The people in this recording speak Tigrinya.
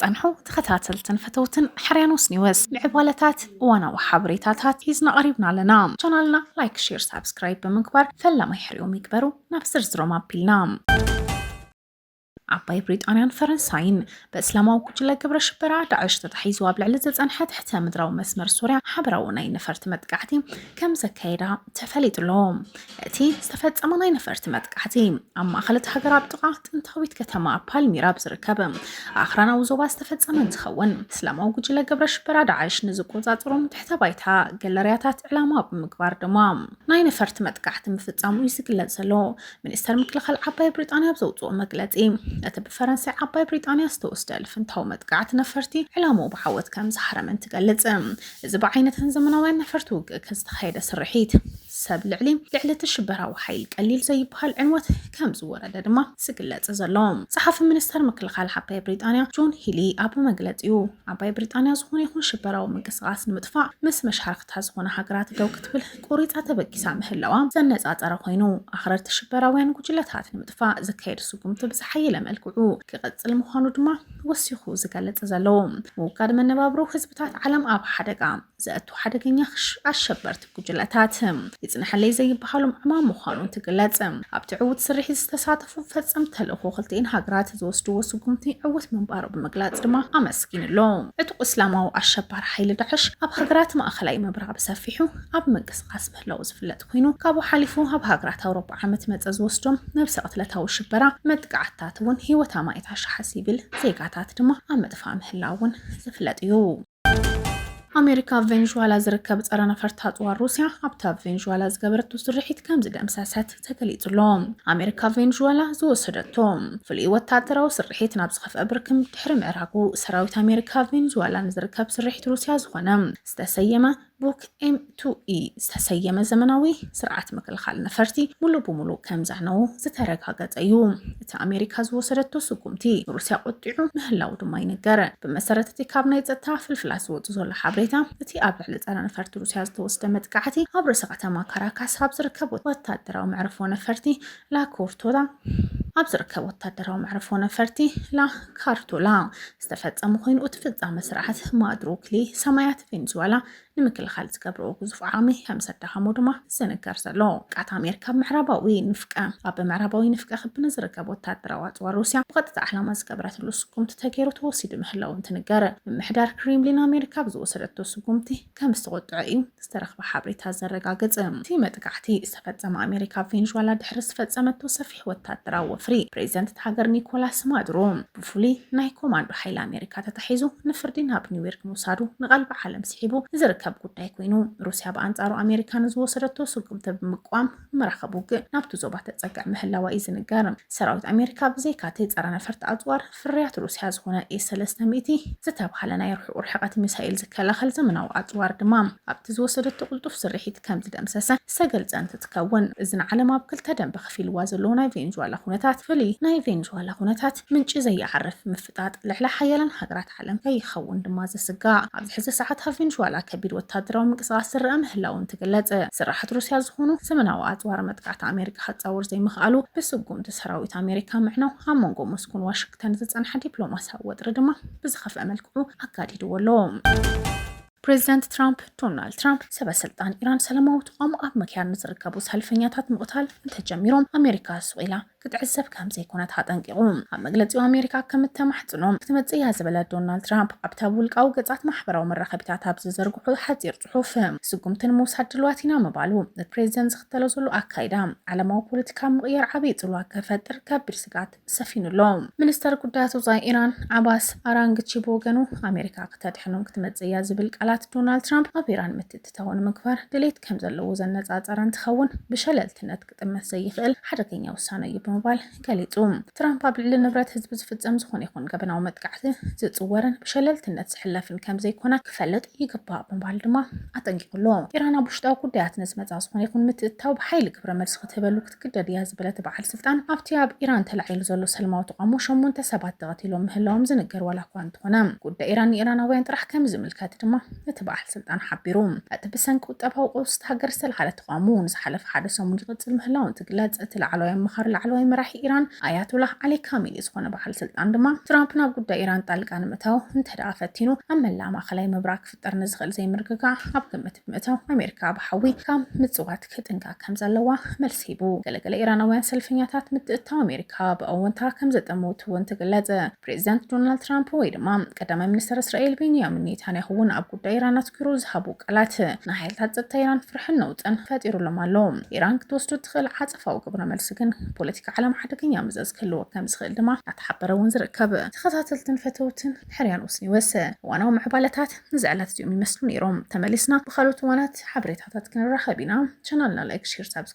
ዝፀንሑ ተኸታተልትን ፈተውትን ሓርያኖስ ኒወስ ምዕባለታት እዋናዊ ሓበሬታታት ሒዝና ቀሪብና ኣለና። ቻናልና ላይክ፣ ሼር፣ ሳብስክራይብ ብምግባር ፈላማይ ሕሪኦም ይግበሩ። ናብ ዝርዝሮም ኣቢልና ዓባይ ብሪጣንያን ፈረንሳይን በእስላማዊ ጉጅለ ግብረ ሽበራ ዳዕሽ ተታሒዙ ኣብ ልዕሊ ዝጸንሐ ትሕተ ምድራዊ መስመር ሶርያ ሓበራዊ ናይ ነፈርቲ መጥቃዕቲ ከም ዘካየዳ ተፈሊጡ ኣሎ። እቲ ዝተፈጸመ ናይ ነፈርቲ መጥቃዕቲ ኣብ ማእኸል እቲ ሃገር ኣብ ጥቓ ጥንታዊት ከተማ ፓልሚራ ኣብ ዝርከብ ኣኽራናዊ ዞባ ዝተፈጸመ እንትኸውን እስላማዊ ጉጅለ ግብረ ሽበራ ዳዕሽ ንዝቆጻጽሮም ትሕተ ባይታ ገለርያታት ዕላማ ብምግባር ድማ ናይ ነፈርቲ መጥቃዕቲ ምፍጻሙ እዩ ዝግለጽ ዘሎ። ሚኒስተር ምክልኻል ዓባይ ብሪጣንያ ኣብ ዘውጽኦ መግለጺ፣ እቲ ብፈረንሳይ ዓባይ ብሪጣንያ ዝተወስደ ልፍንታዊ መጥቃዕቲ ነፈርቲ፣ ዕላምኡ ብዓወት ከም ዝሃረመን ትገልጽ። እዚ ብዓይነተን ዘመናውያን ነፈርቲ ውግእከ ዝተኻየደ ስርሒት፣ ሰብ ልዕሊ ልዕሊ እቲ ሽበራዊ ሓይል ቀሊል ዘይብሃል ዕንወት ከም ዝወረደ ድማ ዝግለጽ ዘሎ። ጸሓፊ ሚኒስተር ምክልኻል ዓባይ ብሪጣንያ ጆን ሂሊ ኣብ መግለጺኡ፣ ዓባይ ብሪጣንያ ዝኾነ ይኹን ሽበራዊ ምንቅስቓስ ንምጥፋእ ምስ መሻርኽታ ዝኾና ሃገራት ደው ክትብል ቁሪጻ ተበጊሳ ምህላዋ ዘነጻጸረ ኮይኑ፣ ኣኽረርቲ ሽበራውያን ጉጅለታት ንምጥፋእ ዝካየድ ስጉምቲ ብዝሓየለ መልክዑ ክቕጽል ምዃኑ ድማ ወሲኹ ዝገልጽ ዘሎ ምውጋድ መነባብሮ ህዝብታት ዓለም ኣብ ሓደጋ ዘእቱ ሓደገኛ ኣሸበርቲ ጉጅለታት ይጽንሐለይ ዘይበሃሎም ዕማም ምዃኑ እንትግለጽ ኣብቲ ዕዉት ስርሒት ዝተሳተፉ ክፉእ ፈጸምቲ ተልእኾ ክልቲኤን ሃገራት ዝወስድዎ ስጉምቲ ዕውት ምንባሩ ብምግላጽ ድማ ኣመስጊኑ'ሎ። ዕጡቕ እስላማዊ ኣሸባሪ ሓይሊ ዳዕሽ ኣብ ሃገራት ማእከላይ ምብራቕ ብሰፊሑ ኣብ ምንቅስቓስ ምህላዉ ዝፍለጥ ኮይኑ፣ ካብኡ ሓሊፉ ኣብ ሃገራት ኣውሮጳ ዓመት መጸ ዝወስዶም ነብሰ ቅትለታዊ ሽበራ መጥቃዕትታት'ውን ህይወት ኣማኢት ኣሽሓት ሲቪል ዜጋታት ድማ ኣብ ምጥፋእ ምህላዉ'ውን ዝፍለጥ'ዩ። ኣሜሪካ ኣብ ቬንዙዋላ ዝርከብ ፀረ ነፈርቲ ኣፅዋር ሩስያ ኣብቲ ኣብ ቬንዙዋላ ዝገበረቶ ስርሒት ከም ዝደምሰሰት ተገሊጹ ኣሎ ኣሜሪካ ኣብ ቬንዙዋላ ዝወሰደቶ ፍሉይ ወታደራዊ ስርሒት ናብ ዝኸፍአ ብርክም ድሕሪ ምዕራጉ ሰራዊት ኣሜሪካ ኣብ ቬንዙዋላ ንዝርከብ ስርሒት ሩስያ ዝኾነ ዝተሰየመ ቡክ ኤም ቱ ኢ ዝተሰየመ ዘመናዊ ስርዓት ምክልኻል ነፈርቲ ሙሉእ ብሙሉእ ከምዛነዉ ዝተረጋገፀ እዩ። እቲ ኣሜሪካ ዝወሰደቶ ስጉምቲ ንሩስያ ቆጢዑ ምህላዉ ድማ ይንገር። ብመሰረት እቲ ካብ ናይ ፀጥታ ፍልፍላት ዝወፁ ዘሎ ሓበሬታ እቲ ኣብ ልዕሊ ፀረ ነፈርቲ ሩስያ ዝተወስደ መጥቃዕቲ ኣብ ርእሰ ከተማ ካራካስ ኣብ ዝርከብ ወታደራዊ መዕርፎ ነፈርቲ ላኮርቶላ ኣብ ዝርከብ ወታደራዊ መዕርፎ ነፈርቲ ላ ካርቶላ ዝተፈጸመ ኮይኑ እቲ ፍጻመ ስርዓት ማድሩክሊ ሰማያት ቬንዙዋላ ንምክልኻል ዝገብረዎ ግዙፍ ዓቕሚ ከም ዘዳኸሞ ድማ ዝንገር ዘሎ ቃት ኣሜሪካ ምዕራባዊ ንፍቀ ኣብ ምዕራባዊ ንፍቀ ክቢ ንዝርከብ ወታደራዊ ኣጽዋር ሩስያ ብቐጥታ ዕላማ ዝገበረትሉ ስጉምቲ ተገይሩ ተወሲዱ ምህላው እንትንገር ምምሕዳር ክሬምሊን ኣሜሪካ ብዝወሰደቶ ስጉምቲ ከም ዝተቖጥዐ እዩ ዝተረኽበ ሓብሬታ ዘረጋግጽ። እቲ መጥቃዕቲ ዝተፈጸመ ኣሜሪካ ኣብ ቬንዙዋላ ድሕሪ ዝፈጸመቶ ሰፊሕ ወታደራዊ ወፍሪ ፕሬዚደንት እታ ሃገር ኒኮላስ ማዱሮ ብፍሉይ ናይ ኮማንዶ ሓይሊ ኣሜሪካ ተታሒዙ ንፍርዲ ናብ ኒውዮርክ ምውሳዱ ንቐልቢ ዓለም ስሒቡ ዝርከብ ጉዳይ ኮይኑ ሩሲያ ብኣንጻሩ ኣሜሪካ ንዝወሰደቶ ስጉምቲ ብምቅዋም ምርኻብ ውግእ ናብቲ ዞባ ተጸግዕ ምህላዋ እዩ ዝንገር። ሰራዊት ኣሜሪካ ብዘይካ'ቲ ጸረ-ነፈርቲ ኣጽዋር ፍርያት ሩስያ ዝኾነ ኤስ ሰለስተ ሚእቲ ዝተብሃለ ናይ ርሑቕ ርሕቐት ሚሳኤል ዝከላኸል ዘመናዊ ኣጽዋር ድማ ኣብቲ ዝወሰደቶ ቅልጡፍ ስርሒት ከምዝደምሰሰ ዝተገልጸ እንትትከውን፣ እዚ ንዓለም ኣብ ክልተ ደምበ ከፊልዋ ዘሎ ናይ ቬንዙዋላ ኩነታት ፍልይ ናይ ቬንዙዋላ ኩነታት ምንጪ ዘይዓርፍ ምፍጥጣጥ ልዕሊ ሓያላን ሃገራት ዓለም ከይኸውን ድማ ዝስጋእ ኣብዚ ሕዚ ሰዓት ኣብ ቬንዙዋላ ከቢድ ወታደራዊ ምንቅስቓስ ዝረኣ ምህላዉ እንትግለጽ፣ ስርሓት ሩስያ ዝኾኑ ዘመናዊ ኣጽዋር መጥቃዕቲ ኣሜሪካ ከጻውር ዘይምኽኣሉ ብስጉምቲ ሰራዊት ኣሜሪካ ምዕናው ኣብ መንጎ ሞስኮን ዋሽግተን ዝጸንሐ ዲፕሎማስያዊ ወጥሪ ድማ ብዝኸፍኣ መልክዑ ኣጋዲድዎ ኣሎ። ፕሬዚዳንት ትራምፕ ዶናልድ ትራምፕ ሰበ ስልጣን ኢራን ሰላማዊ ተቓውሞ ኣብ ምክያድ ንዝርከቡ ሰልፈኛታት ምቕታል እንተጀሚሮም ኣሜሪካ ሱቕ ኢላ ክትዕዘብ ከም ዘይኮነት ኣጠንቂቑ። ኣብ መግለጺኡ ኣሜሪካ ከም እተማሕጽኖ ክትመጽእ እያ ዝበለ ዶናልድ ትራምፕ፣ ኣብቲ ኣብ ውልቃዊ ገጻት ማሕበራዊ መራኸቢታት ኣብ ዝዘርግሖ ሓጺር ጽሑፍ፣ ስጉምቲ ንምውሳድ ድሉዋት ኢና ምባሉ፣ እቲ ፕሬዚደንት ዝኽተሎ ዘሎ ኣካይዳ ዓለማዊ ፖለቲካ ኣብ ምቕያር ዓብዪ ጽልዋ ከፈጥር ከቢድ ስግኣት ሰፊኑ ኣሎ። ሚኒስተር ጉዳያት ወጻኢ ኢራን ዓባስ ኣራንግቺ ብወገኑ፣ ኣሜሪካ ክተድሕኖም ክትመጽእ እያ ዝብል ቃላት ዶናልድ ትራምፕ፣ ኣብ ኢራን ምትእትታው ንምግባር ድሌት ከም ዘለዎ ዘነጻጸረ እንትኸውን፣ ብሸለልትነት ክጥመት ዘይኽእል ሓደገኛ ውሳነ'ዩ ብምባል ገሊጹ። ትራምፕ ኣብ ልዕሊ ንብረት ህዝቢ ዝፍጸም ዝኾነ ይኹን ገበናዊ መጥቃዕቲ ዝጽወርን ብሸለልትነት ዝሕለፍን ከምዘይኮነ ክፈልጥ ይግባእ ብምባል ድማ ኣጠንቂቑ ኣሎ። ኢራን ኣብ ውሽጣዊ ጉዳያት ንዝመጻ ዝኾነ ይኹን ምትእትታው ብሓይሊ ግብረ መልሲ ክትህበሉ ክትግደድ እያ ዝበለ እቲ በዓል ስልጣን፣ ኣብቲ ኣብ ኢራን ተላዒሉ ዘሎ ሰልማዊ ተቓውሞ ሸሞንተ ሰባት ተቐቲሎም ምህላዎም ዝንገር ዋላኳ እንተኾነ፣ ጉዳይ ኢራን ንኢራናውያን ጥራሕ ከምዝምልከት ድማ እቲ በዓል ስልጣን ሓቢሩ። እቲ ብሰንኪ ቁጠባዊ ቀውሲ እታ ሃገር ዝተልዓለ ተቓውሞ ንዝሓለፈ ሓደ ሰሙን ይቕጽል ምህላዉ እንትግለጽ፣ እቲ ላዕለዋይ ኣማኻሪ ላዕለዋይ መራሒ ኢራን ኣያቶላህ ዓሊ ካሚኒ ዝኾነ በዓል ስልጣን ድማ፣ ትራምፕ ናብ ጉዳይ ኢራን ጣልቃ ንምእታው እንተድኣ ፈቲኑ፣ ኣብ መላእ ማእከላይ ምብራቕ ክፍጠር ንዝኽእል ዘይምርግጋእ ኣብ ግምት ብምእታው፣ ኣሜሪካ ብሓዊ ካብ ምጽዋት ክጥንቀቕ ከምዘለዋ መልሲ ሂቡ። ገለ ገለ ኢራናውያን ሰልፈኛታት፣ ምትእትታው ኣሜሪካ ብኣወንታ ከምዘጠመቱ'ውን ተገለጸ። ፕሬዚዳንት ዶናልድ ትራምፕ ወይ ድማ ቀዳማይ ሚኒስተር እስራኤል ቤንያሚን ኔታንያሁ'ውን ኣብ ጉዳይ ኢራን ኣትኪሩ ዝሃቡ ቃላት ንሓይልታት ጸጥታ ኢራን ፍርሕን ነውጽን ፈጢሩሎም ኣሎ። ኢራን ክትወስዶ እትኽእል ዓጸፋዊ ግብረ መልሲ ግን ፖለቲካ ዓለም ሓደገኛ መዘዝ ክህልዎ ከም ዝኽእል ድማ እናተሓበረ እውን ዝርከብ። ተኸታተልትን ፈተውትን ሕርያን ኡስኒወሰ እዋናዊ ምዕባለታት እዚ ዕለት እዚኦም ይመስሉ ነይሮም። ተመሊስና ብኻልኦት እዋናት ሓበሬታታት ክንራኸብ ኢና። ቻናልና ላይክ ሼር ሳብስክራይብ